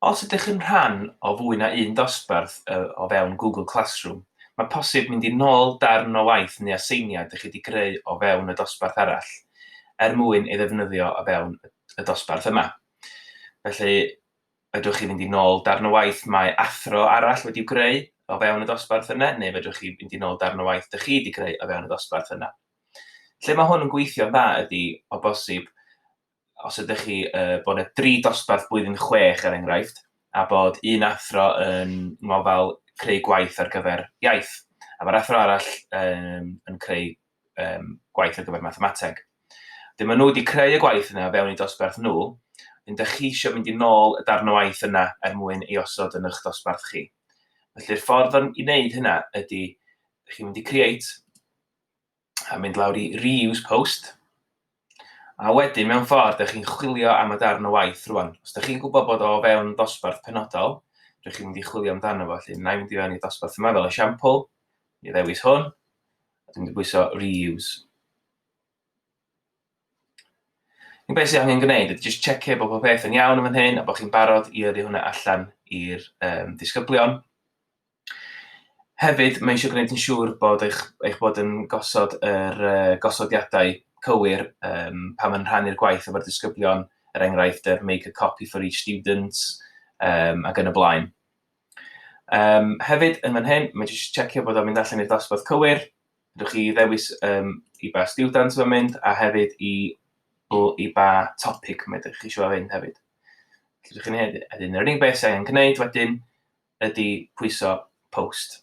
Os ydych chi'n rhan o fwy na un dosbarth o fewn Google Classroom, mae posib mynd i nôl darn o waith neu aseiniad i chi wedi greu o fewn y dosbarth arall er mwyn ei ddefnyddio o fewn y dosbarth yma. Felly, fedrwch chi fynd i nôl darn o waith mae athro arall wedi'w greu o fewn y dosbarth yna, neu fedrwch chi fynd i nôl darn o waith dych chi wedi greu o fewn y dosbarth yna. Lle mae hwn yn gweithio'n dda ydy, o bosib, os ydych chi, uh, bod yna dri dosbarth blwyddyn chwech er enghraifft, a bod un athro yn ngofal creu gwaith ar gyfer iaith, a mae'r athro arall um, yn creu um, gwaith ar gyfer mathemateg. Dyn maen nhw wedi creu y gwaith yna fewn i dosbarth nhw, yn dych chi eisiau mynd i nôl y darn o waith yna er mwyn ei osod yn eich dosbarth chi. Felly'r ffordd i wneud hynna ydy, chi'n mynd i create, a mynd lawr i reuse post, a wedyn mewn ffordd ydych chi'n chwilio am y darn o waith rwan. Os ydych chi'n gwybod bod o o fewn dosbarth penodol, rydych chi'n mynd i chwilio amdano fo, felly na i fynd i fewn i dosbarth yma fel esiampl, i ddewis hwn, a dwi'n mynd i bwyso reuse. Yn beth sydd angen gwneud ydy jyst checio bod pob peth yn iawn yn fan hyn a bod chi'n barod i yrru hwnna allan i'r um, disgyblion. Hefyd, mae eisiau gwneud yn siŵr bod eich, eich bod yn gosod yr uh, gosodiadau cywir um, pan mae'n rhannu'r gwaith efo'r disgyblion, er enghraifft, er make a copy for each student, um, ac yn y blaen. Um, hefyd, yn fan hyn, mae jyst checio bod o'n mynd allan i'r dosbarth cywir. Rydych chi ddewis um, i ba student mae'n mynd a hefyd i, i ba topic mae ydych chi eisiau fynd hefyd. Rydych chi'n hyn, yr unig beth sy'n angen gwneud wedyn ydy pwyso post.